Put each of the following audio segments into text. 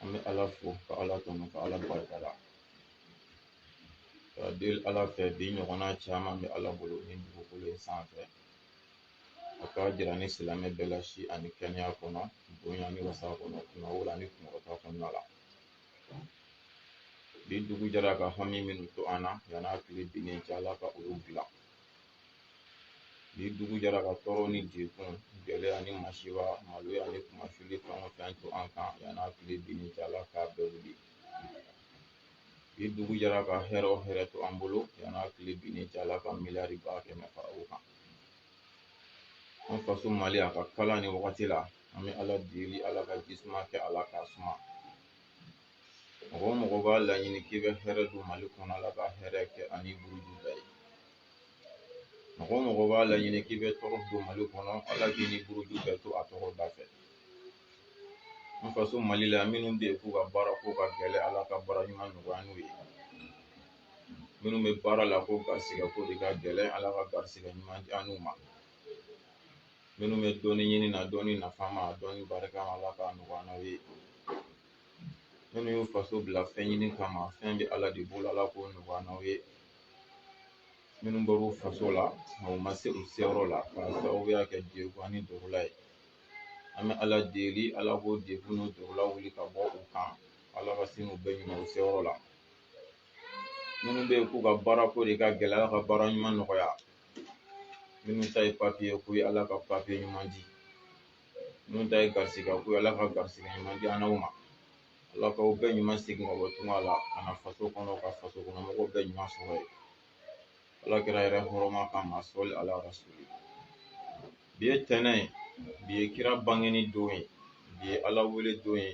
an bɛ ala fo ka ala tanu ka ala barika da ka deli ala fɛ bi ɲɔgɔnna caman bɛ ala bolo ni dugukolo in sanfɛ a k'a jira an ni silamɛ bɛɛ la si ani kɛnɛya kɔnɔ bonya ni wasa kɔnɔ kunnawolo ni kunkɔrɔta kɔnɔna la bi dugu jɛra ka hami minnu to an na yan'a tile binnen cɛ ala ka olu dilan bi dugu jɛra ka tɔɔrɔ ni degun gɛlɛya ni masiba maloya ni kunmasuli fɛn o fɛn to an kan yan'a tile binni cɛ ala k'a bɛɛ wuli bi dugu jɛra ka hɛrɛ o hɛrɛ to an bolo yan'a tile binni cɛ ala ka miliyari ba kɛmɛ fara o kan an faso mali a ka kalan nin wagati la an bɛ ala deli ala ka ji suma kɛ a la k'a suma mɔgɔ o mɔgɔ b'a laɲini k'i bɛ hɛrɛ don mali kɔnɔ ala ka hɛrɛ kɛ a ni buruju bɛɛ ye mɔgɔ o mɔgɔ b'a laɲini k'i bɛ tɔɔrɔ don mali kɔnɔ ala k'i ni buruju bɛɛ to a tɔgɔ da fɛ an faso mali la minnu bɛ yen k'u ka baara ko ka gɛlɛn ala ka baara ɲuman nɔgɔya an n'u ye minnu bɛ baara la ko garisigɛ ko de ka gɛlɛn ala ka garisigɛ ɲuman di an n'u ma minnu bɛ dɔnni ɲini na dɔnni nafama dɔnni barikama ala k'a nɔgɔya an n'aw ye minnu y'u faso bila fɛn ɲini kama fɛn bɛ ala de bolo ala k'o nɔgɔya an n'aw ye minnu bɔr'u faso la nka u ma se u seyɔrɔ la k'a sababuya kɛ degun ani dɔgɔla ye an bɛ ala deli ala k'o degun n'o dɔgɔla wuli ka bɔ u kan ala ka sin u bɛɛ ɲuman u seyɔrɔ la minnu bɛ yen k'u ka baara ko de ka gɛlɛn ala ka baara ɲuman nɔgɔya minnu ta ye papiye ko ye ala ka papiye ɲuman di minnu ta ye garisigɛ ko ye ala ka garisigɛ ɲuman di an n'aw ma ala k'aw bɛɛ ɲuman segin ka bɔ tunga la ka na faso kɔnɔ ka faso kɔnɔ mɔgɔw bɛɛ ɲuman sɔrɔ yen ala kira yɛrɛ hɔrɔma kama sɔli ala rasuli bi ye tɛnɛn ye bi ye kira bangeni don ye bi ye ala wele don ye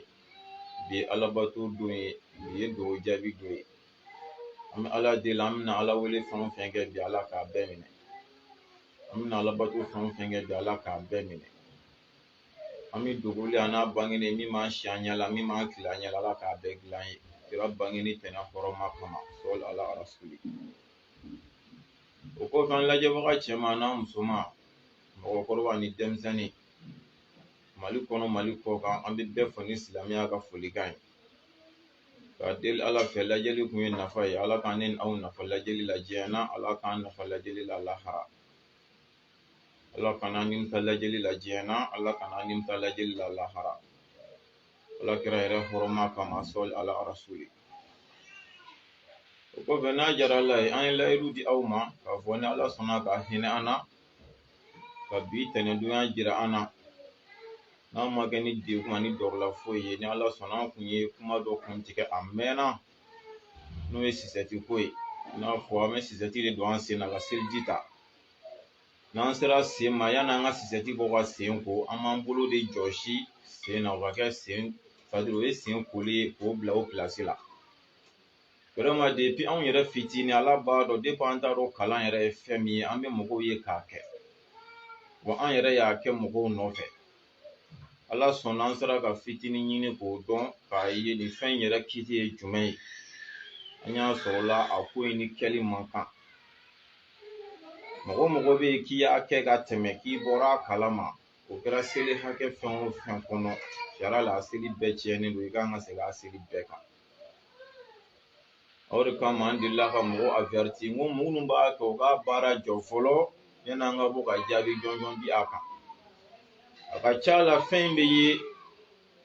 bi ye ala bato don ye bi ye dugawu jaabi don ye an bɛ ala deli an bɛna ala wele fɛn o fɛn kɛ bi ala k'a bɛɛ minɛ an bɛna ala bato fɛn o fɛn kɛ bi ala k'a bɛɛ minɛ hami dogolen an'a bangenen min b'an si an ɲɛ la min b'an tile an ɲɛ la ala k'a bɛɛ dilan an ye kira bangeni tɛnɛn hɔrɔma kama sɔli ala rasuli o kɔfɛ an lajɛbaga cɛman n'a musoman mɔgɔkɔrɔba ni denmisɛnnin mali kɔnɔ mali kɔkan an bɛ bɛɛ fo ni silamɛya ka folikan ye Ka deli ala fɛ lajɛli kun ye nafa ye ala k'an ni aw nafa lajɛli la diɲɛ na ala k'an nafa lajɛli la lahara ala kan'an nimisa lajɛli la diɲɛ na ala kan'an nimisa lajɛli la lahara ala kira yɛrɛ hɔrɔma kama sɔli ala rasuli o kɔfɛ n'a diyara ala ye an ye layidu di aw ma k'a fɔ ni ala sɔnna ka hinɛ an na ka bi tɛnɛndonya jira an na n'a ma kɛ ni degun ani dɔrɔla foyi ye ni ala sɔnna an kun ye kuma dɔ kun tigɛ a mɛnna n'o ye sisɛti ko ye i n'a fɔ an bɛ sisɛti de don an sen na ka seliji ta n'an sera sen ma yanni an ka sisɛti bɔ ka sen ko an b'an bolo de jɔsi sen na o ka kɛ c'est-à-dire o ye sen koli ye k'o bila o pilasi la vraiment depi anw yɛrɛ fitinin ala b'a dɔn depi an t'a dɔn kalan yɛrɛ ye fɛn min ye an bɛ mɔgɔw ye k'a kɛ wa an yɛrɛ y'a kɛ mɔgɔw nɔfɛ ala sɔnna an sera ka fitinin ɲini k'o dɔn k'a ye nin fɛn yɛrɛ kiti ye jumɛn ye an y'a sɔrɔ la a ko in ni kɛli man kan mɔgɔ mɔgɔ bɛ yen k'i y'a kɛ ka tɛmɛ k'i bɔra a kalama o kɛra seli hakɛ fɛn o fɛn kɔnɔ sariya la a seli bɛɛ tiɲɛnen don i kan ka segin a seli bɛɛ kan o de kama an delila ka mɔgɔ avɛriti n ko mɔgɔ minnu b'a kɛ u ka baara jɔ fɔlɔ yanni an ka bɔ ka jaabi jɔnjɔn di a kan a ka ca la fɛn in bɛ ye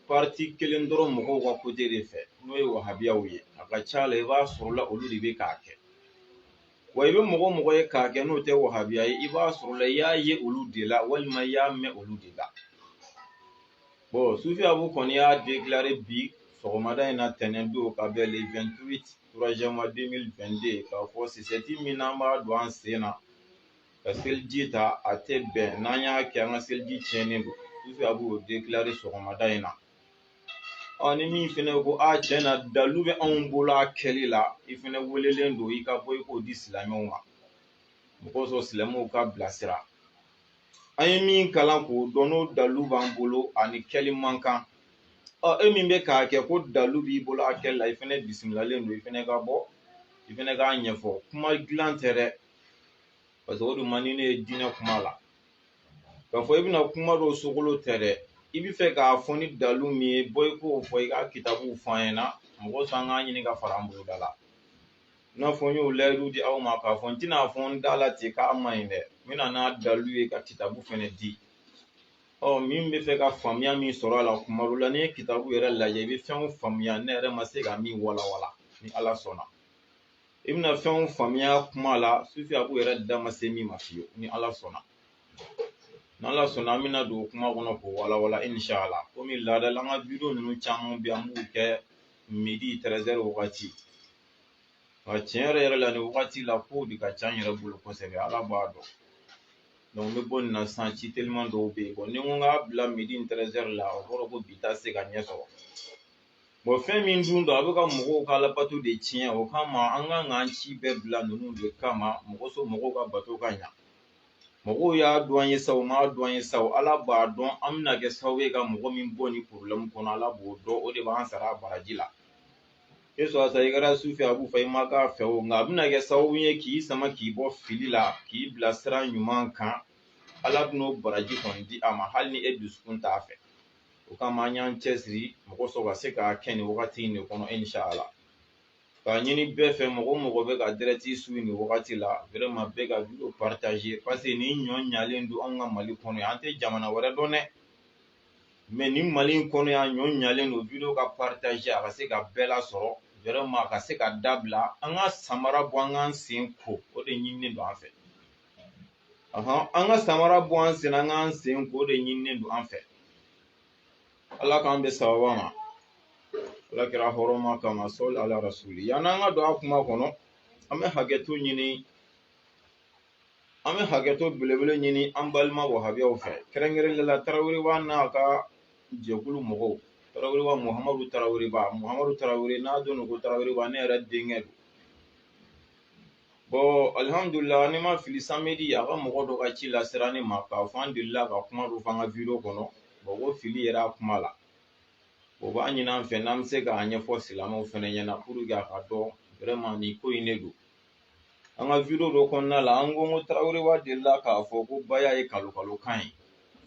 pariti kelen dɔrɔn mɔgɔw ka kote de fɛ n'o ye wahabiyaw ye a ka ca la i b'a sɔrɔ la olu de bɛ k'a kɛ wa i bɛ mɔgɔ mɔgɔ ye k'a kɛ n'o tɛ wahabiya ye i b'a sɔrɔ la i y'a ye olu de la walima i y'a mɛn olu de la bɔn sufi abu kɔni y'a dekilare bi sɔgɔmada in na tɛnɛn don ka bɛn le 28 troisième mois 2022 k'a fɔ sisɛti min n'an b'a don an sen na ka seliji ta a tɛ bɛn n'an y'a kɛ an ka seliji tiɲɛnen don sufi abu y'o dekilare sɔgɔmada in na ɔ ni min fɛnɛ ko a tiɲɛ na dalu bɛ anw bolo a kɛli la i fɛnɛ welelen don i ka bɔ i k'o di silamɛw ma mun kosɔn silamɛw ka bilasira an ye min kalan k'o dɔn n'o dalu b'an bolo a nin kɛli man kan ɔ e min bɛ k'a kɛ ko dalu b'i bolo a kɛli la i fɛnɛ bisimilalen don i fɛnɛ ka bɔ i fɛnɛ k'a ɲɛfɔ kuma jalan tɛ dɛ paseke o dun man di ne ye diinɛ kuma la k'a fɔ i bɛna kuma dɔ sogolo tɛ dɛ i bɛ fɛ k'a fɔ ni dalu min ye bɔ i k'o fɔ i ka kitabuw fɔ an ɲɛna mɔgɔ san k'a ɲini ka fara an boloda la i n'a fɔ n y'o layidu di aw ma k'a fɔ n tɛna a fɔ n da la ten k'a man ɲi dɛ n bɛna n'a dalu ye ka kitabu fɛnɛ di ɔ min bɛ fɛ ka faamuya min sɔrɔ a la kuma dɔ la n'i ye kitabu yɛrɛ lajɛ i bɛ fɛnw faamuya ne yɛrɛ ma se ka min walawala ni ala sɔnna i bɛna fɛnw faamuya kuma la sufi abu yɛrɛ da ma se min ma fiyewu ni ala sɔnna n'ala sɔnna an bɛna don kuma kɔnɔ k'o walawala inshala komi laadala an ka bidiyo ninnu caman bɛ an b'u kɛ midi tɛrɛzɛri wagati nka tiɲɛ yɛrɛ yɛrɛ la nin wagati la kow de ka ca n yɛrɛ bolo kosɛbɛ ala b'a dɔn donc n bɛ bɔ nin na sisan ci teliman dɔw bɛ yen bɔn ni n ko n k'a bila midi tɛrɛzɛri la o kɔrɔ ko bi ta se ka ɲɛ sɔrɔ Bon fɛn min dun don a bɛ ka mɔgɔw ka alabato de tiɲɛ o kama an kan k'an ci bɛɛ bila ninnu de kama mɔgɔ so mɔgɔw ka bato ka ɲa mɔgɔw y'a dɔn an ye sa u m'a dɔn an ye sa ala b'a dɔn an bɛna kɛ sababu ye ka mɔgɔ min bɔ nin problème kɔnɔ ala b'o dɔn o de b'an sara a baraji la e sɔrɔ sa i kɛra su fɛ a b'u fɛ i ma k'a fɛ o nka a bɛna kɛ sababu ye k'i sama k'i bɔ fili la k'i bila sira ɲuman kan ala bɛn'o baraji kɔni di a ma hali ni e dusukun t'a fɛ o kama an y'an cɛsiri mɔgɔ sɔrɔ ka se ka kɛ nin wagati in de kɔnɔ inshala k'a ɲini bɛɛ fɛ mɔgɔ o mɔgɔ bɛ ka direct suivre nin wagati la vraiment bɛɛ ka video partager parce que nin ɲɔ ɲalen don anw ka mali kɔnɔ yan an tɛ jamana wɛrɛ dɔn dɛ mais nin mali in kɔnɔ yan ɲɔ ɲalen don video ka partager a ka se ka bɛɛ lasɔrɔ vraiment a ka se ka dabila an ka samara bɔ an k'an sen ko o de ɲininen don an fɛ an ka samara bɔ an sen na an k'an sen ko o de ɲininen don an fɛ ala k'an bɛɛ sababa ma ala kira hɔrɔma kama sɔli ala rasuli yann'an ka don a kuma kɔnɔ an bɛ hakɛto ɲini an bɛ hakɛto belebele ɲini an balima wahabiyaw fɛ kɛrɛnkɛrɛnnenya la taraweleba n'a ka jɛkulu mɔgɔw taraweleba muhamadu taraweleba muhamadu tarawele n'a dɔn ko taraweleba ne yɛrɛ denkɛ don Bon alihamdulila ni n ma fili samedi a ka mɔgɔ dɔ ka ci lasera ne ma k'a fɔ an delila ka kuma dɔ fɔ an ka video kɔnɔ bon ko fili yera a kuma la o b'a ɲini an fɛ n'an bɛ se k'a ɲɛfɔ silamɛw fana ɲɛna pour que a k'a dɔn vraiment nin ko in de don an ka video dɔ kɔnɔna la an ko ko taraweleba delila k'a fɔ ko baya ye kalon kalon kan ye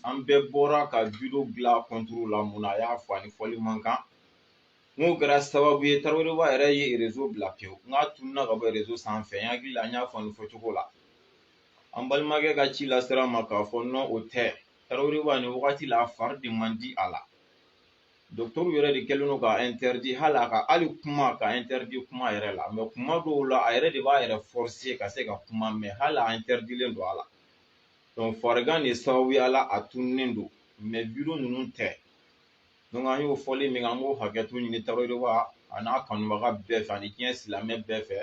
an bɛɛ bɔra ka video dilan contre la mun na a y'a fɔ a ni fɔli man kan n'o kɛra sababu ye taraweleba yɛrɛ ye réseau bila pewu n k'a tununna ka bɔ réseau sanfɛ n hakili la n y'a fɔ nin fɔcogo la an balimakɛ ka ci lasera n ma k'a fɔ non o tɛ taraweleba nin wagati la a fari de man di a la dɔkitɛriw yɛrɛ de kɛlen don k'a interdit hali a ka hali kuma k'a interdit kuma yɛrɛ la mais kuma dɔw la a yɛrɛ de b'a yɛrɛ forcer ka se ka kuma mais hali a interdilen don a la donc farigan de sababuya la a tununnen don mais video ninnu tɛ donc an y'o fɔli min an b'o hakɛto ɲini taraweleba a n'a kanubaga bɛɛ fɛ ani diɲɛ silamɛ bɛɛ fɛ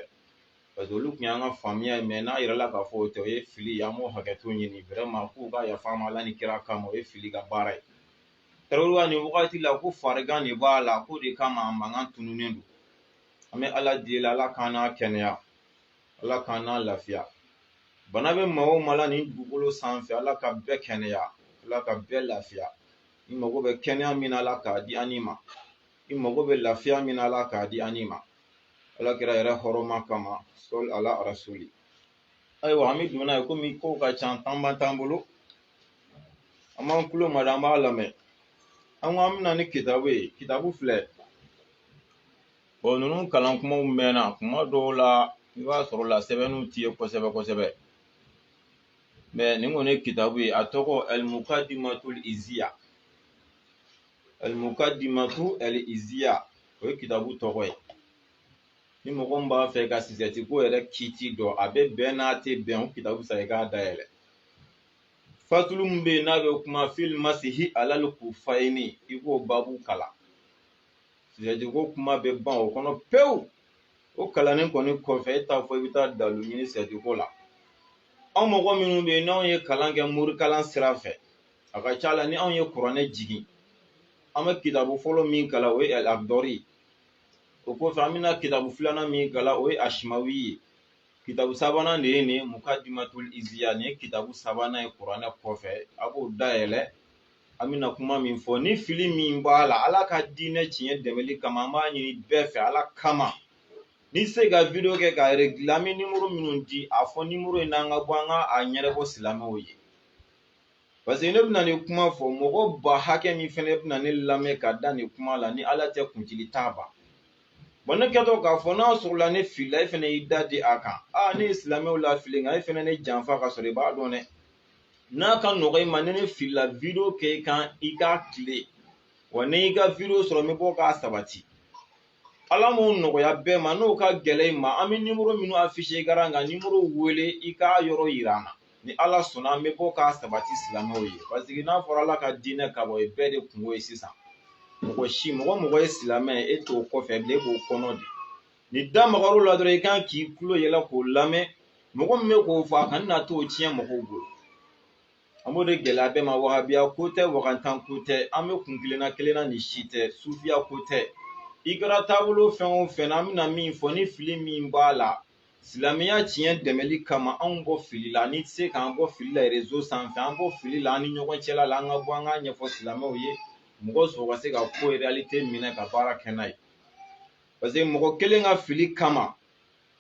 parce que olu tun y'an ka faamuya ye mais n'a yirala k'a fɔ o tɛ o ye fili ye an b'o hakɛto ɲini vraiment k'u ka yafa an ma ala ni kira kama o ye fili ka baara ye taraweleba nin wagati la ko farigan de b'a la k'o de kama a mankan tununnen don an bɛ ala deli ala k'an n'a kɛnɛya ala k'an n'a lafiya bana bɛ maa o maa la nin dugukolo sanfɛ ala ka bɛɛ kɛnɛya ala ka bɛɛ lafiya i mago bɛ kɛnɛya min na ala k'a di an ma i mago bɛ lafiya min na ala k'a di an ma ala kira yɛrɛ hɔrɔma kama sɔli ala arasuli ayiwa an bɛ don n'a ye komi kow ka ca tanba t'an bolo an b'an kulo mada an b'a lamɛn an ko an bɛna ni kitabu ye kitabu filɛ bɔn ninnu kalan kumaw mɛnna kuma dɔw la i b'a sɔrɔ la sɛbɛnniw t'i ye kosɛbɛ kosɛbɛ mɛ nin kɔni ye kitabu ye a tɔgɔ alimukadimatul iziya alimukadimatu aliziya o ye kitabu tɔgɔ ye ni mɔgɔ min b'a fɛ ka sosɛti ko yɛrɛ kiti dɔn a bɛ bɛn n'a tɛ bɛn o kitabu san i k'a dayɛlɛ fatulu min bɛ yen n'a bɛ kuma fil masihi alal kufayni i k'o babu kalan sosɛti ko kuma bɛ ban o kɔnɔ pewu o kalannen kɔni kɔfɛ e t'a fɔ i bɛ taa dalu ɲini sosɛti ko la anw mɔgɔ minnu bɛ yen n'anw ye kalan kɛ morikalan sira fɛ a ka ca la ni anw ye kuranɛ jigin an bɛ kitabu fɔlɔ min kalan o ye akidari ye o kɔfɛ an bɛna kitabu filanan min kalan o ye asimawi ye kitabu sabanan de ye nin mukadimatul iziya nin ye kitabu sabanan ye kuranɛ kɔfɛ a b'o dayɛlɛ an bɛna kuma min fɔ ni fili min b'a la ala ka diinɛ tiɲɛ dɛmɛli kama an b'a ɲini bɛɛ fɛ ala kama ni se ka video kɛ k'a regile an bɛ nimoro minnu di a fɔ nimoro in na an ka bɔ an ka a ɲɛnabɔ silamɛw ye paseke ne bɛna nin kuma fɔ mɔgɔ ba hakɛ min fɛnɛ bɛna ne lamɛn ka da nin kuma la ni ala tɛ kuntigi t'a ban bɔn ne kɛtɔ k'a fɔ n'a sɔrɔla ne filila e fɛnɛ y'i dade a kan ne ye silamɛw lafili nka e fɛnɛ ne janfa ka sɔrɔ i b'a dɔn dɛ n'a ka nɔgɔ i ma ni ne filila video kɛ i kan i k'a tilen wa ni n y'i ka video sɔrɔ n bɛ bɔ k'a sabati ala m'o nɔgɔya bɛɛ ma n'o ka gɛlɛn i ma an bɛ nimoro minnu afishe ekaran kan nimoro wele i k'a yɔrɔ yira an na ni ala sɔnna an bɛ bɔ k'a sabati silamɛw ye paseke n'a fɔra ala ka diinɛ ka bɔ ye bɛɛ de kunko ye sisan mɔgɔ si mɔgɔ o mɔgɔ ye silamɛ e t'o kɔfɛ bilen e b'o kɔnɔ de ni da magar'o la dɔrɔn i kan k'i tulo yɛlɛ k'o lamɛn mɔgɔ min bɛ k'o fɔ a kana na t'o tiɲɛ mɔgɔw bolo an b'o de gɛlɛya bɛɛ ma wahabiya ko tɛ wagantan ko tɛ an bɛɛ kun kelenna kelenna ni si tɛ sufiya ko tɛ i kɛra taabolo fɛn o fɛn na an bɛna min fɔ ni fili min b'a la silamɛya tiɲɛ dɛmɛli kama anw bɔ fili la n'i tɛ se k'an bɔ fili la rezo sanfɛ an bɔ fili la an ni ɲɔgɔn cɛla la an ka bɔ an k'a ɲɛfɔ silamɛw ye mɔgɔ sɔrɔ ka se ka ko reyalite minɛ ka baara kɛ n'a ye parce que mɔgɔ kelen ka fili kama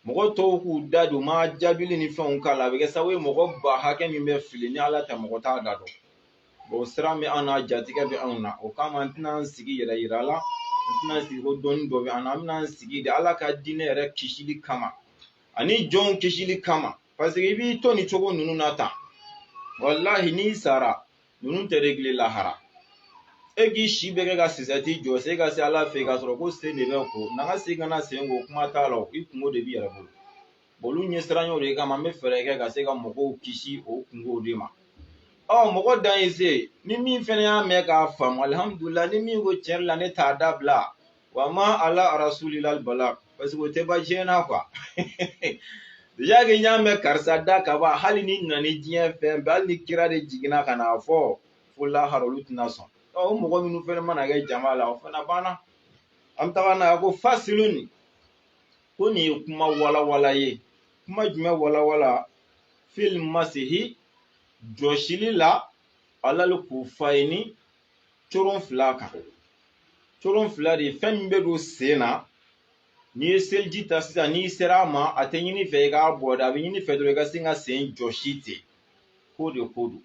mɔgɔ tɔw k'u da don ma jaabili ni fɛnw k'a la a bɛ kɛ sababu ye mɔgɔ ba hakɛ min bɛ fili ni ala tɛ mɔgɔ t'a da dɔn bɔn siran bɛ an na jatigɛ bɛ anw na o kama an tɛna an sigi yɛrɛ yira la an tɛna sigi ko dɔnni dɔ bɛ an na an bɛna an sigi de ala ka diinɛ yɛrɛ kisili kama ani jɔnw kisili kama parce que i b'i to nin cogo ninnu na tan walahi n'i sara ninnu tɛ régler lahara e k'i si bɛɛ kɛ ka sosɛti jɔsi ka se ala fɛ yen k'a sɔrɔ ko sen de bɛ ko na ka segin ka na sen ko kuma t'a la i kungo de b'i yɛrɛ bolo olu ɲɛsiranɲɛw de kama n bɛ fɛɛrɛ kɛ ka se ka mɔgɔw kisi o kungow de ma ɔ mɔgɔ dan ye se ni min fɛnɛ y'a mɛn k'a faamu alihamudulila ni min ko tiɲɛ la ne t'a dabila wa ma ala rasuli ilal bala parce que o tɛ ban diɲɛ na quoi déjà que n y'a mɛn karisa da ka ban hali n'i nana ni diɲɛ fɛn bɛɛ hali ni kira de jiginna ka n'a fɔ fo lahara olu tɛna sɔn o mɔgɔ minnu fɛnɛ mana kɛ jama la o fana banna an bɛ taga n'a ye ko fasilun ko nin ye kuma walawala ye kuma jumɛn walawala fil masihi jɔsili la alal kufayni coron fila kan coron fila de fɛn min bɛ don sen na n'i ye seliji ta sisan n'i sera a ma a tɛ ɲini i fɛ i k'a bɔ dɛ a bɛ ɲini i fɛ dɔrɔn i ka se ka sen jɔsi ten k'o de ko don n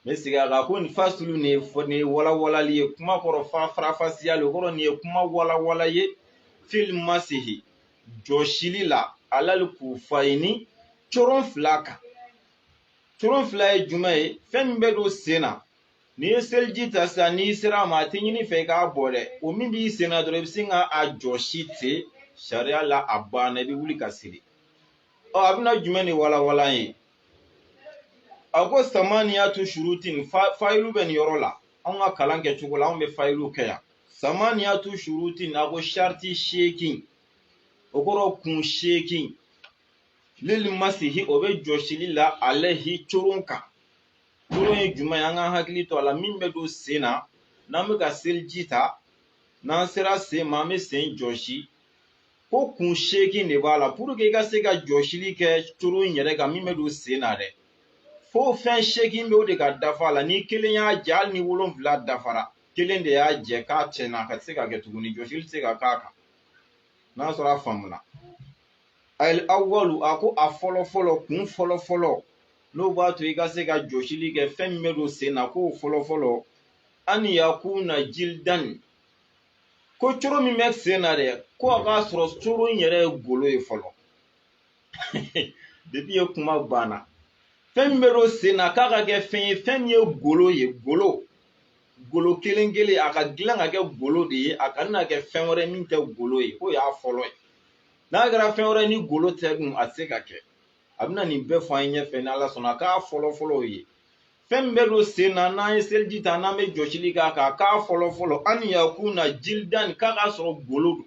bɛ segin a kan ko nin fasulu nin ye walawalali ye kuma kɔrɔ faranfasiyali kɔrɔ nin ye kuma walawala ye fil masihi jɔsili la alal kufayni coron fila kan coron fila ye jumɛn ye fɛn min bɛ don sen na n'i ye seliji ta sisan n'i sera a ma a tɛ ɲini i fɛ i k'a bɔ dɛ o min b'i sen na dɔrɔn i bɛ se ka a jɔsi ten sariya la a banna i bɛ wuli ka seli ɔ a bɛna jumɛn de walawala ye a ko samaniyatu surutin fayilu bɛ nin yɔrɔ la anw ka kalan kɛ cogo la anw bɛ fayilu kɛ yan samaniyatu surutin a ko sariti seegin o kɔrɔ kun seegin lil masihi o bɛ jɔsili la alehi coron kan coron ye jumɛn ye an k'an hakili to a la min bɛ don sen na n'an bɛ ka seliji ta n'an sera sen ma an bɛ sen jɔsi ko kun seegin de b'a la pour que i ka se ka jɔsili kɛ coron in yɛrɛ kan min bɛ don sen na dɛ fo fɛn seegin bɛɛ de ka dafa a la ni kelen y'a jɛ hali ni wolonfila dafara kelen de y'a jɛ k'a tiɲɛna k'a tɛ se ka kɛ tuguni jɔsili tɛ se ka k'a kan n'a sɔrɔ a faamuna al awalu a ko a fɔlɔ fɔlɔ kun fɔlɔ fɔlɔ n'o b'a to i ka se ka jɔsili kɛ fɛn min bɛ don sen na k'o fɔlɔ fɔlɔ an yakuna jildan ko coron min bɛ sen na dɛ ko a k'a sɔrɔ coron in yɛrɛ ye golo ye fɔlɔ depi ye kuma banna fɛn min bɛ don sen na k'a ka kɛ fɛn ye fɛn min ye golo ye golo golo kelen kelen a ka dilan ka kɛ golo de ye a kana kɛ fɛn wɛrɛ min tɛ golo ye o y'a fɔlɔ ye n'a kɛra fɛn wɛrɛ ni golo tɛ dun a tɛ se ka kɛ a bɛna nin bɛɛ fɔ an ye ɲɛfɛ n'ala sɔnna k'a fɔlɔ fɔlɔ o ye fɛn min bɛ don sen na n'an ye seliji ta n'an bɛ jɔsili k'a kan k'a fɔlɔ fɔlɔ an yakuna jildan k'a k'a sɔrɔ golo don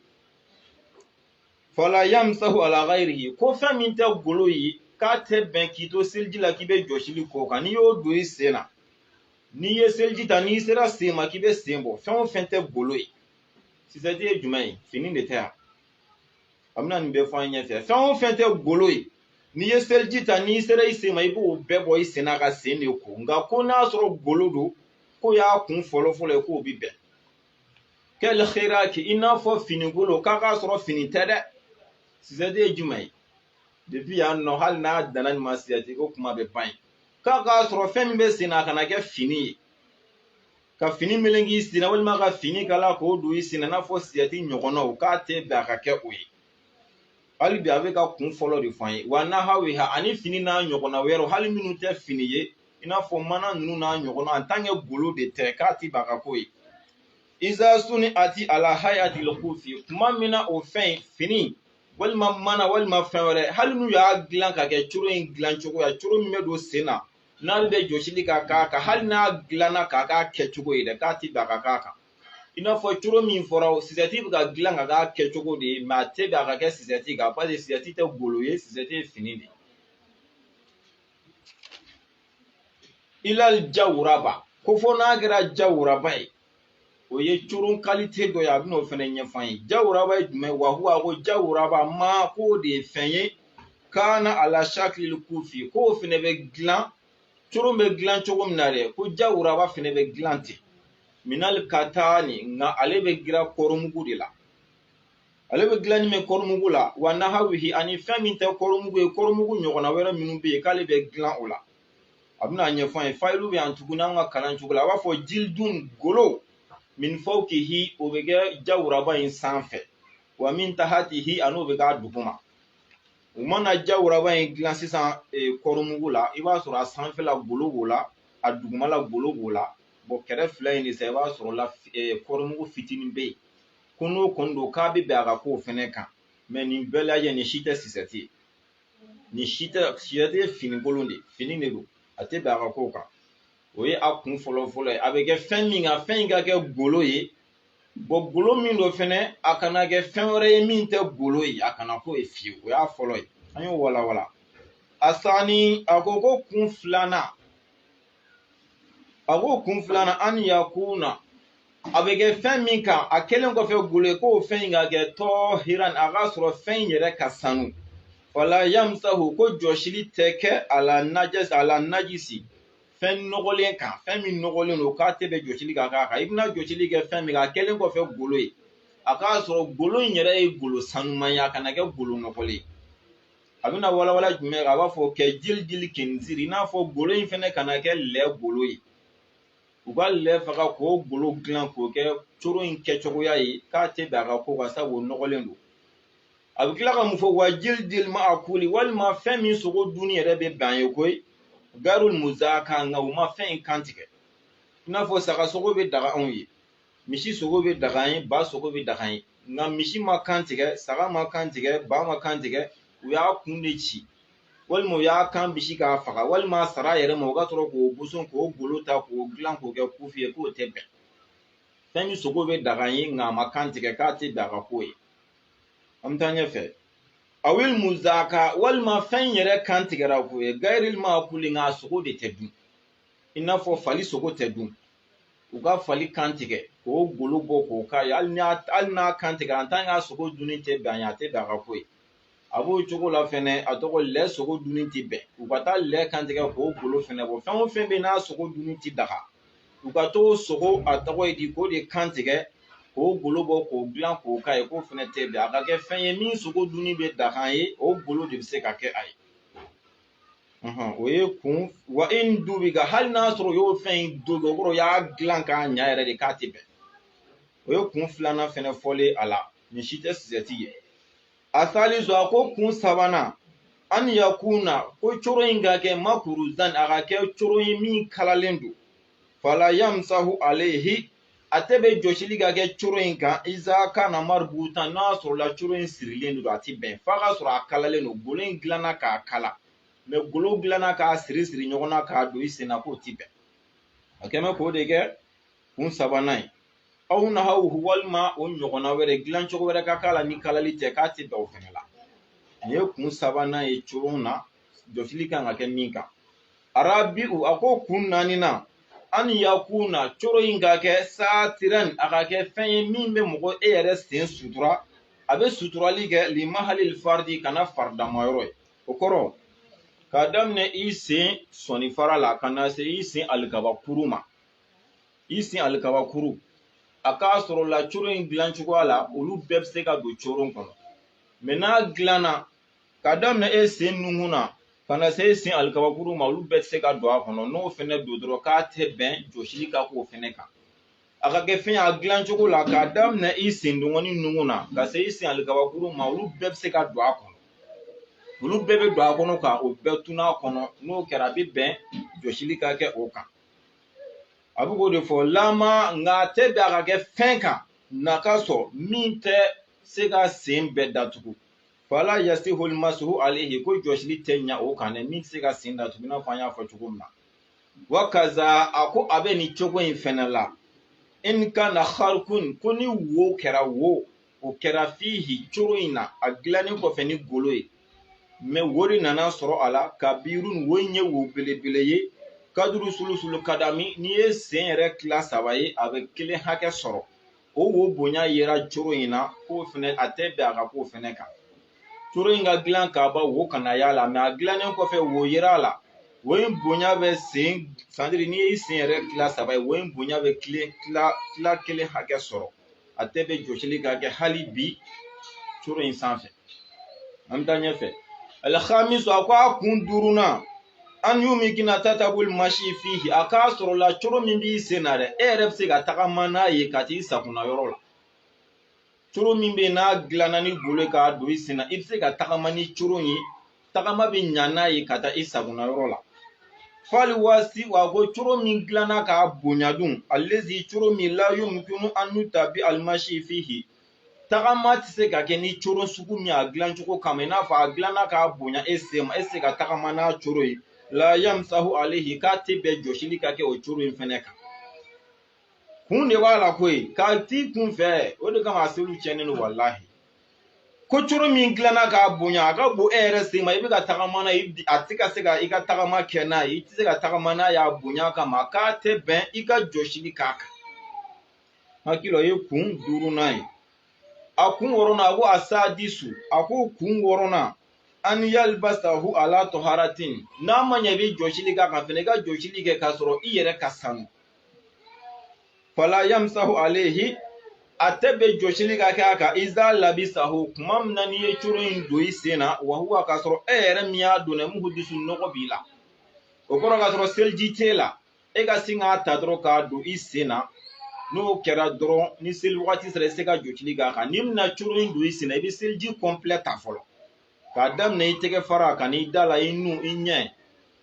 fala yamsahu ala ghayrihi ko fɛn min tɛ golo ye k'a tɛ bɛn k'i to seliji la k'i bɛ jɔsili k'o kan n'i y'o don i sen na n'i ye seliji ta n'i sera sen ma k'i bɛ sen bɔ fɛn o fɛn tɛ golo ye sisɛti ye jumɛn ye fini de tɛ yan a bɛna nin bɛɛ fɔ an ɲɛfɛ fɛn o fɛn tɛ golo ye n'i ye seliji ta n'i sera i sen ma i b'o bɛɛ bɔ i sen na ka sen de ko nka ko n'a sɔrɔ golo don k'o y'a kun fɔlɔ fɔlɔ ye k'o bi bɛn kal khiraki i n'a fɔ fini kolon k'a k'a sɔrɔ fini tɛ dɛ sisɛti ye jumɛn ye depi yan nɔ hali n'a danna nin ma sisɛti ko kuma bɛɛ ban ye k'a k'a sɔrɔ fɛn min bɛ sen na a kana kɛ fini ye ka fini meleke i sen na walima ka fini kala k'o don i sen na i n'a fɔ sisɛti ɲɔgɔnnaw k'a tɛ bɛn a ka kɛ o ye hali bi a bɛ ka kun fɔlɔ de fɔ an ye wa nahawiha ani fini n'a ɲɔgɔnna wɛrɛw hali minnu tɛ fini ye i n'a fɔ mana ninnu n'a ɲɔgɔnna an tan kɛ golo de tɛ k'a ti bɛn a ka k'o ye iza suniati ala hayatil kufi tuma min na o fɛn fini walima mana walima fɛn wɛrɛ hali n'u y'a dilan ka kɛ coro in dilan cogoya coro min bɛ don sen na n'ale bɛ jɔsili ka k'a kan hali n'a dilanna k'a k'a kɛcogo ye dɛ k'a ti bɛn a ka k'a kan i n'a fɔ coro min fɔra sisɛti bɛ ka dilan ka k'a kɛcogo de ye mɛ a tɛ bɛn a ka kɛ sisɛti kan paseke sisɛti tɛ golo ye sisɛti ye fini de ye ilal jawuraba ko fo n'a kɛra jawuraba ye o ye coron kalite dɔ ye a bɛna o fana ɲɛfɔ an ye jawuraba ye jumɛn wa huwa ko jawuraba ma k'o de ye fɛn ye kaana ala shakilil kufi k'o fana bɛ dilan coron bɛ dilan cogo min na dɛ ko jawuraba fana bɛ dilan ten minal katani nka ale bɛ dilan kɔrɔmugu de la ale bɛ dilan ni bɛ kɔrɔmugu la wa nahawihi ani fɛn min tɛ kɔrɔmugu ye kɔrɔmugu ɲɔgɔnna wɛrɛ minnu bɛ yen k'ale bɛ dilan o la a bɛna a ɲɛfɔ an ye fayilu bɛ yan tuguni an ka kalan cogo la a b'a fɔ jildun golo min fawkihi o bɛ kɛ jawuraba in sanfɛ wa min tahatihi ani o bɛ k'a duguma u mana jawuraba in dilan sisan e, kɔrɔmugu la i b'a sɔrɔ a sanfɛla golo b'o la a dugumala golo b'o la bɔn kɛrɛ fila in de sa i b'a sɔrɔ la e, kɔrɔmugu fitinin bɛ yen ko n'o kɔni don k'a bɛ bɛn a ka k'o fɛnɛ kan mɛ nin bɛɛ lajɛ nin si tɛ sisɛti ye nin si tɛ sisɛti ye fini kolon de fini de don a tɛ bɛn a ka k'o kan o ye a kun fɔlɔ fɔlɔ ye a bɛ kɛ fɛn min kan fɛn in ka kɛ golo ye bɔn golo min don fɛnɛ a kana kɛ fɛn wɛrɛ ye min tɛ golo ye a kana k'o ye fiyewu o y'a fɔlɔ ye an y'o walawala asani a ko ko kun filanan a ko kun filanan an yakuna a bɛ kɛ fɛn min kan a kɛlen kɔfɛ golo ye ko fɛn in ka kɛ tɔhiran a k'a sɔrɔ fɛn in yɛrɛ ka sanu fala yamusahu ko jɔsili tɛ kɛ ala najisi fɛn nɔgɔlen kan fɛn min nɔgɔlen don k'a tɛ bɛn jɔsili ka k'a kan i bɛna jɔsili kɛ fɛn min kan a kɛlen kɔfɛ golo ye a k'a sɔrɔ golo in yɛrɛ ye golo sanuman ye a kana kɛ golo nɔgɔlen ye a bɛna walawala jumɛn kan a b'a fɔ kɛjilidili kɛnziri i n'a fɔ golo in fɛnɛ kana kɛ lɛ golo ye u ka lɛ faga k'o golo dilan k'o kɛ coro in kɛcogoya ye k'a tɛ bɛn a ka k'o kan sabu o nɔgɔlen don a bɛ tila ka mun fɔ wa jilidili maakuli walima fɛn min sogo dunni yɛrɛ bɛ bɛn ye koyi garul muzaka nka u ma fɛn in kan tigɛ i n'a fɔ saga sogo bɛ daga anw ye misi sogo bɛ daga ye ba sogo bɛ daga ye nka misi ma kan tigɛ saga ma kan tigɛ ba ma kan tigɛ u y'a kun de ci walima u y'a kan bisi k'a faga walima a sara a yɛrɛ ma u ka sɔrɔ k'o boson k'o golo ta k'o dilan k'o kɛ kufi ye k'o tɛ bɛn fɛn min sogo bɛ daga ye nka a ma kan tigɛ k'a tɛ bɛn a ka k'o ye an bɛ taa ɲɛfɛ awili muzaka walima fɛn yɛrɛ kan tigɛra ko ye gayirili maakuli nka a sogo de tɛ dun i n'a fɔ fali sogo tɛ dun u ka fali kan tigɛ k'o golo bɔ k'o k'a ye hali n'a kan tigɛra en tant que a sogo dunni tɛ bɛn a ye a tɛ bɛn a ka k'o ye a b'o cogo la fɛnɛ a tɔgɔ lɛ sogo dunni tɛ bɛn u ka taa lɛ kan tigɛ k'o golo fɛnɛ bɔ fɛn o fɛn bɛ n'a sogo dunni tɛ daga u ka t'o sogo a tɔgɔ ye di k'o de kan tigɛ k'o golo bɔ k'o dilan k'o k'a ye k'o fɛnɛ tɛ bɛn a ka kɛ fɛn ye min sogo dunni bɛ daga ye o golo de bɛ se ka kɛ a ye o ye kun wa in dubiga hali n'a sɔrɔ u y'o fɛn in don o kɔrɔ u y'a dilan k'a ɲa yɛrɛ de k'a tɛ bɛn o ye kun filanan fɛnɛ fɔlen a la nin si tɛ sosɛti ye asalisu a ko kun sabanan an yakuna ko coro in ka kɛ makuruzan a ka kɛ coro ye min kalalen don fala yamusahu alehi a tɛ bɛn jɔsili ka kɛ coro in kan iza kana maributan n'a sɔrɔla coro in sirilen don a tɛ bɛn f'a ka sɔrɔ a kalalen don golo in dilanna k'a kala mɛ golo dilanna k'a siri siri ɲɔgɔn na k'a don i sen na k'o tɛ bɛn a kɛ mɛ k'o de kɛ kun sabanan ye aw nahawu walima o ɲɔgɔnna wɛrɛ dilan cogo wɛrɛ ka k'a la ni kalali tɛ k'a tɛ bɛn o fɛnɛ la nin ye kun sabanan ye coron na jɔsili kan ka kɛ min kan arabi'u a ko kun naaninan an yakuna coro in ka kɛ satiran a ka kɛ fɛn ye min bɛ mɔgɔ e yɛrɛ sen sutura a bɛ suturali kɛ limahalil faridi kana faridama yɔrɔ ye o kɔrɔ k'a daminɛ i sen sɔnifara la ka na se i sen alikabakuru ma i sen alikabakuru a k'a sɔrɔ la coro in dilan cogoya la olu bɛɛ bɛ se ka don coron kɔnɔ mɛ n'a dilanna ka daminɛ e sen nunkun na ka na se e sen alikabakuru ma olu bɛɛ tɛ se ka don a kɔnɔ n'o fɛnɛ don dɔrɔn k'a tɛ bɛn jɔsili ka k'o fɛnɛ kan a ka kɛ fɛn ye a dilan cogo la k'a daminɛ i sen dengɔni nunkun na ka se i sen alikabakuru ma olu bɛɛ bɛ se ka don a kɔnɔ olu bɛɛ bɛ don a kɔnɔ ka o bɛɛ tunun a kɔnɔ n'o kɛra a bɛ bɛn jɔsili ka kɛ o kan a bɛ k'o de fɔ lama nka a tɛ bɛn a ka kɛ fɛn kan na ka sɔrɔ min tɛ se ka sen bɛɛ datugu fala yasihu almasuhu alayhi ko jɔsili tɛ ɲa o kan dɛ min tɛ se ka sen datugu i n'a fɔ an y'a fɔ cogo min na wa kaza a ko a bɛ nin cogo in fɛnɛ la in kana kharkun ko ni wo kɛra wo o kɛra fihi coro in na a dilannen kɔfɛ ni golo ye mɛ wo de nana sɔrɔ a la kabirun wo in ye wo belebele ye kaduru sulusulu kadami n'i ye sen yɛrɛ tila saba ye a bɛ kelen hakɛ sɔrɔ o wo bonya yera coro in na k'o fɛnɛ a tɛ bɛn a ka k'o fɛnɛ kan coro in ka dilan k'a ban wo kana y'a la mɛ a dilannen kɔfɛ wo yera a la wo in bonya bɛ sen sandiri n'i y'i sen yɛrɛ tila saba ye wo in bonya bɛ tila tila kelen hakɛ sɔrɔ a tɛ bɛn jɔsili ka kɛ hali bi coro in sanfɛ an bɛ taa ɲɛfɛ alkhamisu a ko a kun duurunan an yumikina tatabul masi fihi a k'a sɔrɔ la coro min b'i sen na dɛ e yɛrɛ bɛ se ka tagama n'a ye ka t'i sakona yɔrɔ la coro min bɛ yen n'a dilanna ni golo ye k'a don i sen na i bɛ se ka tagama ni coro ye tagama bɛ ɲa n'a ye ka taa i sakona yɔrɔ la fali waasi a ko coro min dilanna k'a bonya dun alezi coro min la yumkinu an yutabi alimasi fihi tagama tɛ se ka kɛ ni coro sugu min a dilan cogo kama i n'a fɔ a dilanna k'a bonya e sen ma e se ka tagama n'a coro ye la yamsahu alayhi k'a tɛ bɛn jɔsili ka kɛ o coro in fɛnɛ kan kun de b'a la koyi k'a tɛ kunfɛ o de kama a seliw tiɲɛnen don walahi ko coro min dilanna k'a bonya a ka bon e yɛrɛ sen ma i bɛ ka tagama n'a ye a tɛ ka se ka i ka tagama kɛ n'a ye i tɛ se ka tagama n'a y'a bonya kama k'a tɛ bɛn i ka jɔsili k'a kan hakili o ye kun duurunan ye a kun wɔɔrɔnan a ko a sadisu a ko kun wɔɔrɔnan an yalbasahu ala taharatin n'a ma ɲɛ i bɛ jɔsili k'a kan fɛnɛ i ka jɔsili kɛ k'a sɔrɔ i yɛrɛ ka sanu fala yamsahu alayhi a tɛ bɛn jɔsili ka kɛ a kan iza labisahu kuma min na n'i ye coro in don i sen na wa huwa k'a sɔrɔ e yɛrɛ min y'a don dɛ muhudisu nɔgɔ b'i la o kɔrɔ k'a sɔrɔ seliji t'e la e ka sin k'a ta dɔrɔn k'a don i sen na n'o kɛra dɔrɔn ni seli wagati sera i se ka jɔsili k'a kan n'i bɛna coro in don i sen na i bɛ seliji kɔnpilɛ ta fɔlɔ k'a daminɛ i tɛgɛ fara ka n'i da la i nun i ɲɛ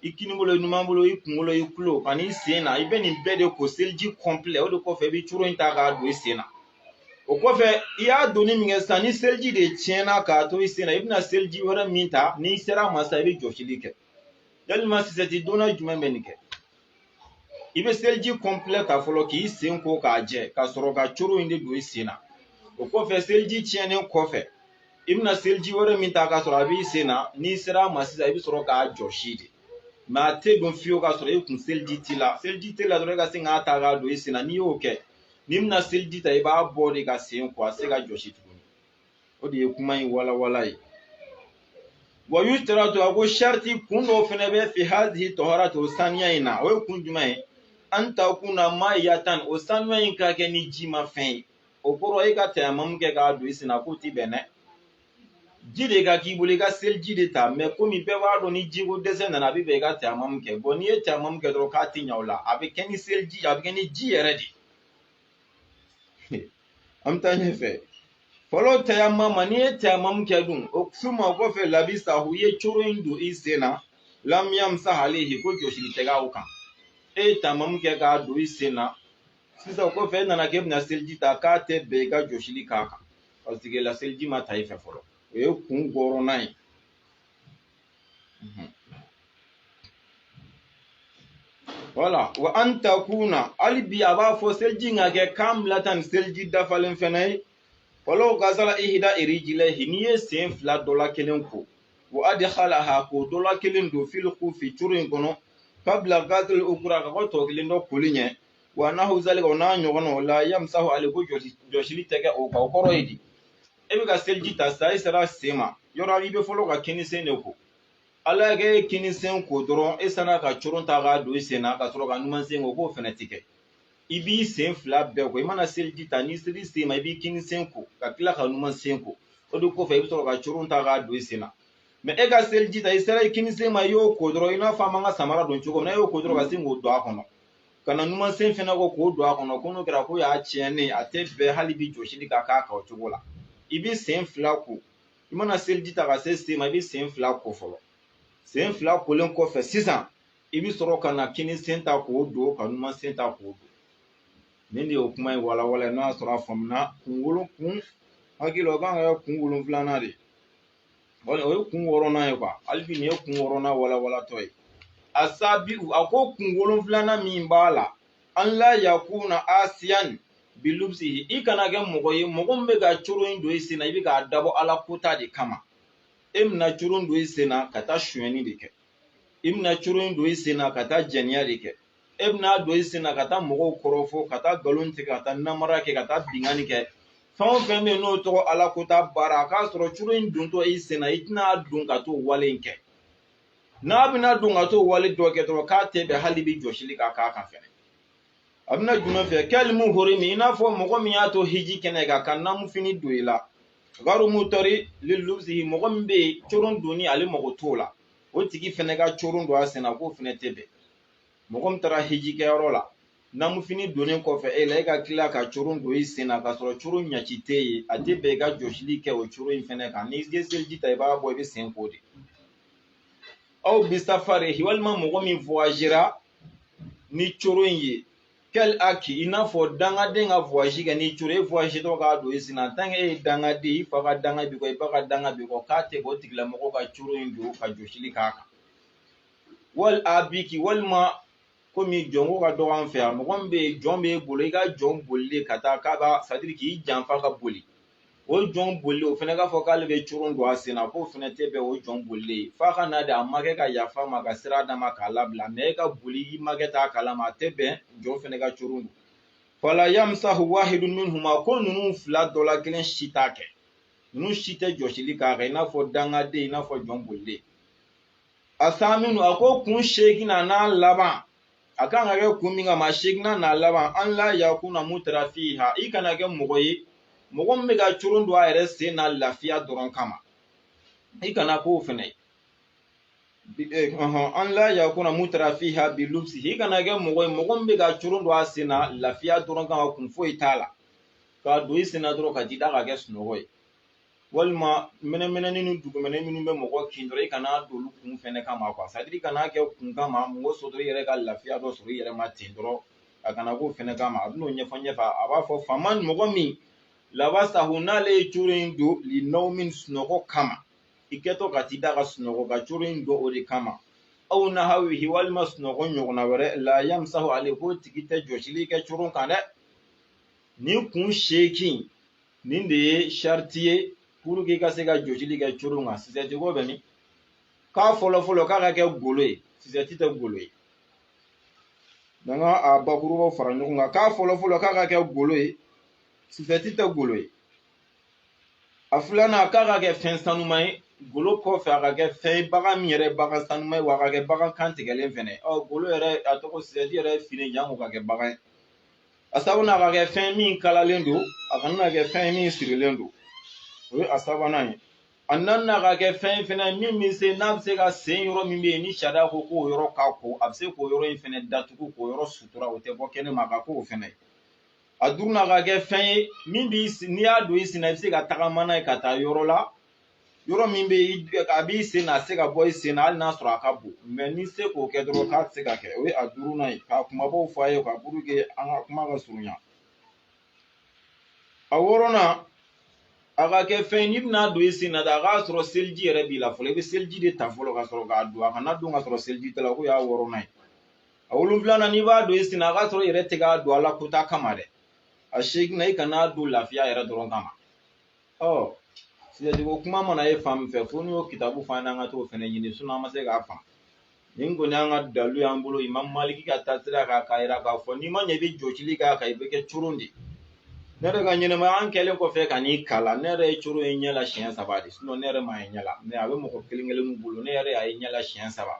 i kinibolo i numanbolo i kunkolo i tulo ka n'i sen na i bɛ nin bɛɛ de ko seliji kɔnpilɛ o de kɔfɛ i bɛ coro in ta k'a don i sen na o kɔfɛ i y'a donni min kɛ sisan ni seliji de tiɲɛna k'a to i sen na i bɛna seliji wɛrɛ min ta n'i sera a ma sisan i bɛ jɔsili kɛ yali maa sosɛti donna jumɛn bɛ nin kɛ i bɛ seliji kɔnpilɛ ta fɔlɔ k'i sen ko k'a jɛ ka sɔrɔ ka coro in de don i sen na o kɔfɛ seliji tiɲɛnen kɔfɛ i bɛna seliji wɛrɛ min ta k'a sɔrɔ a b'i sen na n'i sera a ma sisan i bɛ sɔrɔ k'a jɔsi de mɛ a tɛ don fiyewu k'a sɔrɔ e kun seliji t'i la seliji t'e la dɔrɔn e ka se k'a ta k'a don i sen na n'i y'o kɛ n'i bɛna seliji ta i b'a bɔ de ka sen ko a tɛ se ka jɔsi tugun o de ye kuma in walawala ye wa yushtaratu a ko sariti kun dɔw fɛnɛ bɛ fi hazihi taharati o saniya in na o ye kun jumɛn ye an takuna maayatan o saniya in ka kɛ ni jima fɛn ye o kɔrɔ e ka tayamamu kɛ k'a don i sen na k'o ti bɛn dɛ ji de ka k'i bolo i ka seliji de ta mɛ komi bɛɛ b'a dɔn ni jiko dɛsɛ nana a bɛ bɛn i ka tayamamu kɛ n'i ye tayamamu kɛ dɔrɔn k'a ti ɲa o la a bɛ kɛ ni seliji a bɛ kɛ ni ji yɛrɛ de ye an bɛ taa ɲɛfɛ falaw tayamama n'i ye tayamamu kɛ dun o suma o kɔfɛ labisahu i ye coro in don i sen na lam yamsah alayhi ko jɔsili tɛ k'a kan e ye tayamamu kɛ k'a don i sen na sisan o kɔfɛ e nana k'e bɛna seliji ta k'a tɛ bɛn i ka jɔsili k'a kan paseke la seliji ma ta i fɛ fɔlɔ o ye kun wɔɔrɔnan ye wala wa an takuna hali bi a b'a fɔ seliji ka kɛ kamilatan ni seliji dafalen fɛnɛ ye walaw gasala ihida rijilayhi n'i ye sen fila dɔ la kelen ko wa adkhalaha k'o dɔ la kelen don fil kufi coro in kɔnɔ kabla gasili ukura ka kɔn tɔ kelen dɔ koli ɲɛ wa nahu zalika o n'a ɲɔgɔnnaw la yamisahu alayhi ko jɔsi jɔsili tɛ kɛ o kan o kɔrɔ ye di e bɛ ka seliji ta sisan e sera sen ma yɔrɔ i bɛ fɔlɔ ka kini sen de ko ala y'a kɛ e kini sen ko dɔrɔn e sinna ka coron ta k'a don i sen na ka sɔrɔ ka numan sen ko k'o fɛnɛ ti kɛ i b'i sen fila bɛɛ ko i mana seliji ta n'i sera sen ma i b'i kini sen ko ka tila ka numan sen ko o de kɔfɛ i bɛ sɔrɔ ka coron ta k'a don i sen na mɛ e ka seliji ta i sera i kini sen ma i y'o ko dɔrɔn i n'a fɔ an b'an ka samara don cogo min na e y'o ko dɔrɔn ka sin k'o don a kɔnɔ ka na numansen fɛnɛ ko k'o don a kɔnɔ ko n'o kɛra ko y'a tiɲɛnen a tɛ bɛn hali bi jɔsili ka k'a kan o cogo la i b'i sen fila ko i mana seliji ta ka se sen ma i b'i sen fila ko fɔlɔ sen fila kolen kɔfɛ sisan i bɛ sɔrɔ ka na kini sen ta k'o don ka numan sen ta k'o don nin de ye o kuma in walawala n'a sɔrɔ a faamuna kun wolo kun hakili la o kan ka kɛ kun wolonfilanan de ye o ye kun wɔɔrɔnan ye hali bi nin ye kun wɔɔrɔnan walawalatɔ ye asabiu a ko kun wolonfilanan min b'a la an la yakuna asiyan bilubisi i kana kɛ mɔgɔ ye mɔgɔ min bɛ ka coron in don i sen na i bɛ k'a dabɔ ala kota de kama e bɛna coron don i sen na ka taa sonyɛni de kɛ i bɛna coron in don i sen na ka taa jɛniya de kɛ e bɛn'a don i sen na ka taa mɔgɔw kɔrɔfɔ ka taa nkalon tigɛ ka taa namara kɛ ka taa binkanni kɛ fɛn o fɛn bɛ yen n'o tɔgɔ ala kota baara a k'a sɔrɔ coron in dontɔ i sen na i tɛn'a don ka t'o wale in kɛ n'a bɛn'a don ka t'o wale dɔ kɛ dɔrɔn k'a tɛ bɛn hali bi jɔsili ka k'a kan fɛnɛ a bɛna jumɛn fɛ kɛli muhorimi i n'a fɔ mɔgɔ min y'a to hiji kɛnɛ kan ka namufini don i la garu mutɔri lilubisi mɔgɔ min bɛ yen coron donni ale mago t'o la o tigi fɛnɛ ka coron don a sen na k'o fɛnɛ tɛ bɛn mɔgɔ min taara hiji kɛyɔrɔ la namufini donnen kɔfɛ e la e ka tila ka coron don i sen na k'a sɔrɔ coron ɲaci tɛ yen a tɛ bɛn i ka jɔsili kɛ o coron in fɛnɛ kan n'i ye seliji ta i b'a bɔ i b'i sen ko de aw bi safari walima mɔgɔ min voyagera ni coron in ye kɛli aki i n'a fɔ dangaden ka voyage kɛ ni coron e voyagetɔ k'a don i sen na tant que e ye dangaden i fa ka danga b'i kɔ i ba ka danga b'i kɔ k'a tɛ bɔ o tigilamɔgɔ ka coron in don ka jɔsili k'a kan wali abiki walima komi jɔnko ka dɔgɔ an fɛ yan mɔgɔ min bɛ yen jɔn b'e bolo i ka jɔn bolilen ka taa k'a b'a c'est à dire k'i janfa ka boli o jɔn bolilen o fɛnɛ k'a fɔ k'ale bɛ coron don a sen na k'o fɛnɛ tɛ bɛn o jɔn bolilen f'a ka na de a makɛ ka yafa ma ka sira d'a ma k'a labila mais e ka boli i makɛ t'a kalama a tɛ bɛn jɔn fɛnɛ ka coron don fala yamsahu wahidun minhuma ko ninnu fila dɔ la kelen si t'a kɛ ninnu si tɛ jɔsili k'a kan i n'a fɔ dangaden i n'a fɔ jɔn bolilen asaminu a ko kun seeginnan n'a laban a kan ka kɛ kun min kama a seeginnan n'a laban an la yakuna mutarafiha i kana kɛ mɔgɔ ye mɔgɔ min bɛ ka coron don a yɛrɛ sen na lafiya dɔrɔn kama i kana k'o fɛnɛ ye Bi- eh, ɔhɔn, an la yakuna mutarafiha bi lubsi i kana kɛ mɔgɔ ye mɔgɔ min bɛ ka coron don a sen na lafiya dɔrɔn kama kun foyi t'a la k'a don i sen na dɔrɔn ka t'i da ka kɛ sunɔgɔ ye walima mɛnɛmɛnɛni ni dugumɛnɛ minnu bɛ mɔgɔ kin dɔrɔn i kana don olu kun fɛnɛ kama quoi c'est à dire i kana kɛ kun kama mɔgɔ sɔrɔ i yɛrɛ ka lafiya dɔ sɔrɔ i yɛrɛ ma ten dɔrɔn a kana k'o fɛnɛ kama a bɛn'o ɲɛfɔ ɲɛfɛ a b'a fɔ faman mɔgɔ min labasahu n'ale ye coron in don linawumin sunɔgɔ kama i kɛtɔ ka t'i da ka sunɔgɔ ka coron in don o de kama aw nahawihi walima sunɔgɔ ɲɔgɔnna wɛrɛ la yamsahu ale k'o tigi tɛ jɔsili kɛ coron kan dɛ nin kun seekin nin de ye sariti ye puruke i ka se ka jɔsili kɛ coron kan sisɛti ko bɛ min k'a fɔlɔ fɔlɔ k'a ka kɛ golo ye sisɛti tɛ golo ye n'an ka a bakurubaw fara ɲɔgɔn kan k'a fɔlɔ fɔlɔ k'a ka kɛ golo ye sisɛti tɛ golo ye a filanan k'a ka kɛ fɛn sanuma ye golo kɔfɛ a ka kɛ fɛn ye bagan min yɛrɛ bagan sanuma ye wa a ka kɛ bagan kan tigɛlen fɛnɛ ɔ golo yɛrɛ a tɔgɔ sisɛti yɛrɛ fini janko ka kɛ bagan ye a sabanan ka kɛ fɛn min kalalen don a kana na kɛ fɛn min sirilen don o ye a sabanan ye a naaninan ka kɛ fɛn fɛnɛ min bɛ se n'a bɛ se ka sen yɔrɔ min bɛ yen ni sariya ko k'o yɔrɔ ka ko a bɛ se k'o yɔrɔ in fɛnɛ datugu k'o yɔrɔ sutura o tɛ bɔ kɛnɛ ma a ka k'o fɛnɛ ye a duurunan ka kɛ fɛn ye min b'i n'i y'a don i sen na i bɛ se ka tagama n'a ye ka taa yɔrɔ la yɔrɔ min bɛ a b'i sen na a tɛ se ka bɔ i sen na hali n'a sɔrɔ a ka bon n'i se k'o kɛ dɔrɔn k'a tɛ se ka kɛ o ye a duurunan ye k'a kumabaw fɔ a ye ka puruke an ka kuma ka surunya a wɔɔrɔnan a ka kɛ fɛn ye n'i bɛna don i sen na a k'a sɔrɔ seliji yɛrɛ b'i la fɔlɔ i bɛ seliji de ta fɔlɔ ka sɔrɔ k'a don a kana don ka sɔrɔ seliji t'a la k'o y'a wɔɔrɔnan ye a wolonfilanan n'i b'a don i sen na a k'a sɔrɔ i yɛrɛ tɛ k'a don ala kota kama dɛ a seginnan i kana don lafiya yɛrɛ dɔrɔn kama ɔ sisɛti ko kuma mana ye fan min fɛ fo n'i y'o kitabu f'an y'an ka t'o fɛnɛ ɲini an ma se k'a faamu nin kɔni y'an ka dalu y'an bolo imamu maliki ka taasira kan k'a yira k'a fɔ n'i ma ɲɛ i bɛ jɔsili k'a kan i bɛ kɛ coron de ne yɛrɛ ka ɲɛnɛmaya an kɛlen kɔfɛ ka nin kalan ne yɛrɛ ye coron ye ɲɛ la siɲɛ saba de ne yɛrɛ m'a ye ɲɛ la mɛ a bɛ mɔgɔ kelen kelennin bolo ne yɛrɛ y'a ye ɲɛ la siɲɛ saba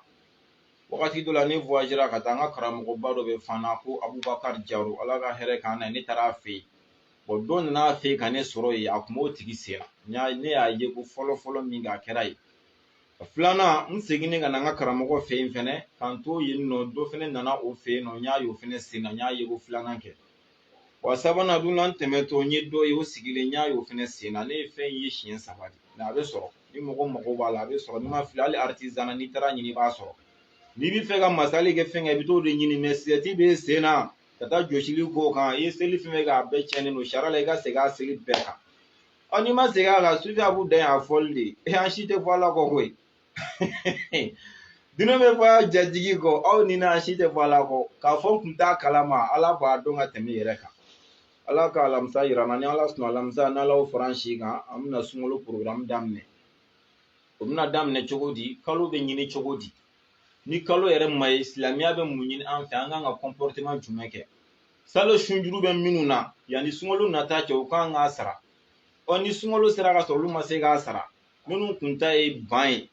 wagati dɔ la ne woyazera ka taa an ka karamɔgɔba dɔ bɛ fana ko abubakari jaro ala ka hɛrɛ k'an na ne taara a fɛ yen dɔ nana a fɛ ka ne sɔrɔ yen a kun b'o tigi sen na ne y'a ye ko fɔlɔ fɔlɔ min k'a kɛra yen filanan n seginnen ka na n ka karamɔgɔ fɛ yen fɛnɛ ka n to yen nɔ dɔ fɛnɛ nana o fɛ yen nɔ n y'a ye o fɛnɛ sen na n y'a ye ko filanan kɛ wa sabanan dun n tɛmɛtɔ n ye dɔ ye o sigilen n y'a ye o fɛnɛ sen na ne ye fɛn ye siɲɛ saba de mɛ a bɛ sɔrɔ ni mɔgɔ mago b'a la a bɛ sɔrɔ n'i ma fili hali aritizana n'i taara ɲini i b'a sɔrɔ n'i b'a fɛ ka masali kɛ fɛn kɛ i bɛ t'o de ɲini mɛ sisɛti b'e sen na ka taa jɔsili k'o kan i ye seli fɛn fɛn kɛ a bɛɛ cɛnnen don sariya la i ka segin a seli bɛɛ kan ɔ n'i ma segin a kan sufi a b'u dan yan a fɔli de e an si tɛ fɔ ala kɔ koyi dunan bɛ fɔ a jatigi kɔ aw ni na an si tɛ fɔ ala kɔ k'a fɔ n kun t'a kalama ala b'a dɔn ka tɛmɛ i yɛrɛ kan ala ka alamisa yira n na ni ala sɔnna alamisa n'ala y'o fara an si kan an bɛna sunkalo porogaramu daminɛ o bɛna daminɛ cogo di kalo bɛ ɲini cogo di ni kalo yɛrɛ ma ye silamɛya bɛ mun ɲini an fɛ an kan ka kɔnpɔriteman jumɛn kɛ salo sunjuru bɛ minnu na yanni sunkalo nata cɛ u kan k'a sara ɔ ni sunkalo sera ka sɔrɔ olu ma se k'a sara minnu kun ta ye ban ye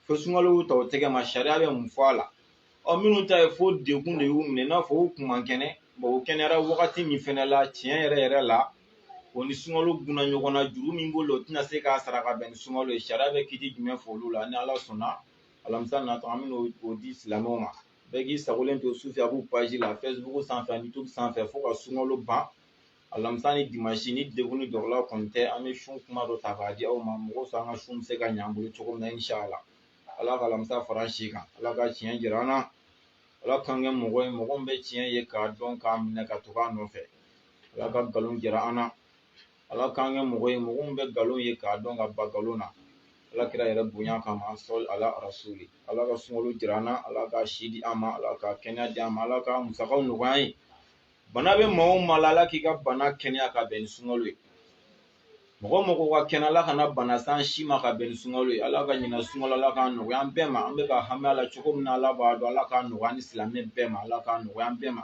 fo sunkalo ta o tɛgɛ ma sariya bɛ mun fɔ a la ɔ minnu ta ye fo degun de y'u minɛ i n'a fɔ u kun man kɛnɛ u kɛnɛyara wagati min fɛnɛ la tiɲɛ yɛrɛ yɛrɛ la o ni sunkalo gunna ɲɔgɔn na juru min b'o la o tɛna se k'a sara ka bɛn ni sunkalo ye sariya bɛ kiti jumɛn fɔ olu la ni ala sɔnna alamisa natɔ an bɛna o di silamɛw ma bɛɛ k'i sagolen to sufi abu paji la fɛsibuku sanfɛ ani yutubi sanfɛ fo ka sunkalo ban alamisa ni dimansi ni degun ni dɔgɔla kɔni tɛ an bɛ sun kuma dɔ ta k'a di aw ma mɔgɔ sɔn an ka sun bɛ se ka ɲɛ an bolo cogo min na inshala ala ka alamisa fara an si kan ala ka tiɲɛ jira an na ala k'an kɛ mɔgɔ ye mɔgɔ min bɛ tiɲɛ ye k'a dɔn k'a minɛ ka tugu a nɔfɛ ala ka nkalon jira an na ala k'an kɛ mɔgɔ ye mɔgɔ min bɛ nkalon ye k'a dɔn ka ban nkalon na ala kira yɛrɛ bonya kama sɔli ala rasuli ala ka sunkalo jira an na ala ka si di an ma ala ka kɛnɛya di an ma ala ka musakaw nɔgɔya an ye bana bɛ maa o maa la ala k'i ka bana kɛnɛya ka bɛn ni sunkalo ye mɔgɔ o mɔgɔ ka kɛnɛ ala kana bana se an si ma ka bɛn ni sunkalo ye ala ka ɲinan sunkalo ala k'a nɔgɔya an bɛɛ ma an bɛ ka hami a la cogo min na ala b'a dɔn ala k'a nɔgɔya ni silamɛ bɛɛ ma ala k'a nɔgɔya an bɛɛ ma